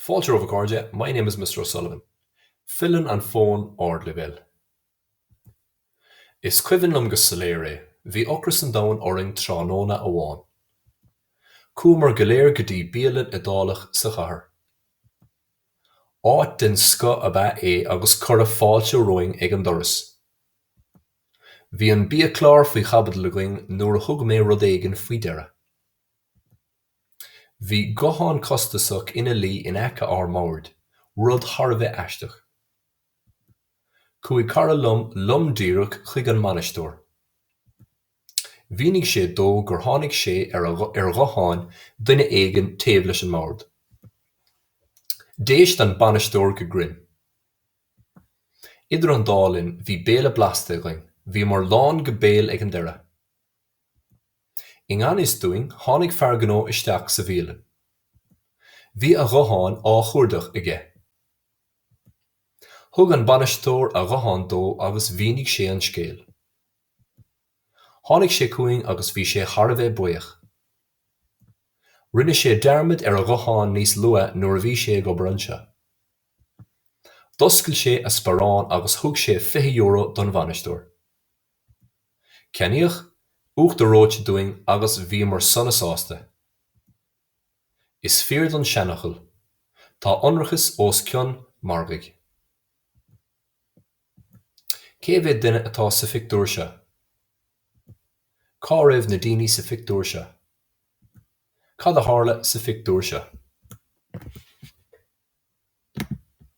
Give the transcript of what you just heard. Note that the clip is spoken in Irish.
Fáilte romhaibh a chairde, my name is Mr. O'Sullivan. Filleann an fón ardleibhéil. Is cuimhin liom go soiléir é, bhí ocras an domhain orainn tráthnóna amháin. Chuamar go léir go dtí bialann Iodálach sa chathair. Áit den scoth ab ea é agus cuireadh fáilte romhainn ag an doras. Bhí an biachlár faoi chaibidil againn nuair a thug mé rud éigin faoi deara. Bhí guthán costasach ina luí in aice ár mbord, rud thar a bheith aisteach. Chuaigh cara liom lom díreach chuig an mbainisteoir. Mhínigh sé dó gur tháinig sé ar ghuthán duine éigin taobh leis an mbord. D'éist an bainisteoir go grinn. Idir an dá linn bhí béile blasta againn, bhíomar lán go béal ag an deireadh! I ngan fhios dúinn, tháinig fear gnó isteach sa bhialann. Bhí a ghuthán á chuardach aige. Thug an bainisteoir a ghuthán dó agus mhínigh sé an scéal. Tháinig sé chugainn agus bhí sé thar a bheith buíoch. Rinne sé dearmad ar a ghuthán níos luaithe nuair a bhí sé ag obair anseo. D'oscail sé a sparán agus thug sé €20 don bhainisteoir. Ceannaíodh uachtar reoite dúinn agus bhíomar sona sásta. Is fíor don seanfhocal, Tá ionracas os cionn margaidh. Cé mhéad duine atá sa phictiúr seo? Cá raibh na daoine sa phictiúr seo? Cad a tharla sa phictiúr seo?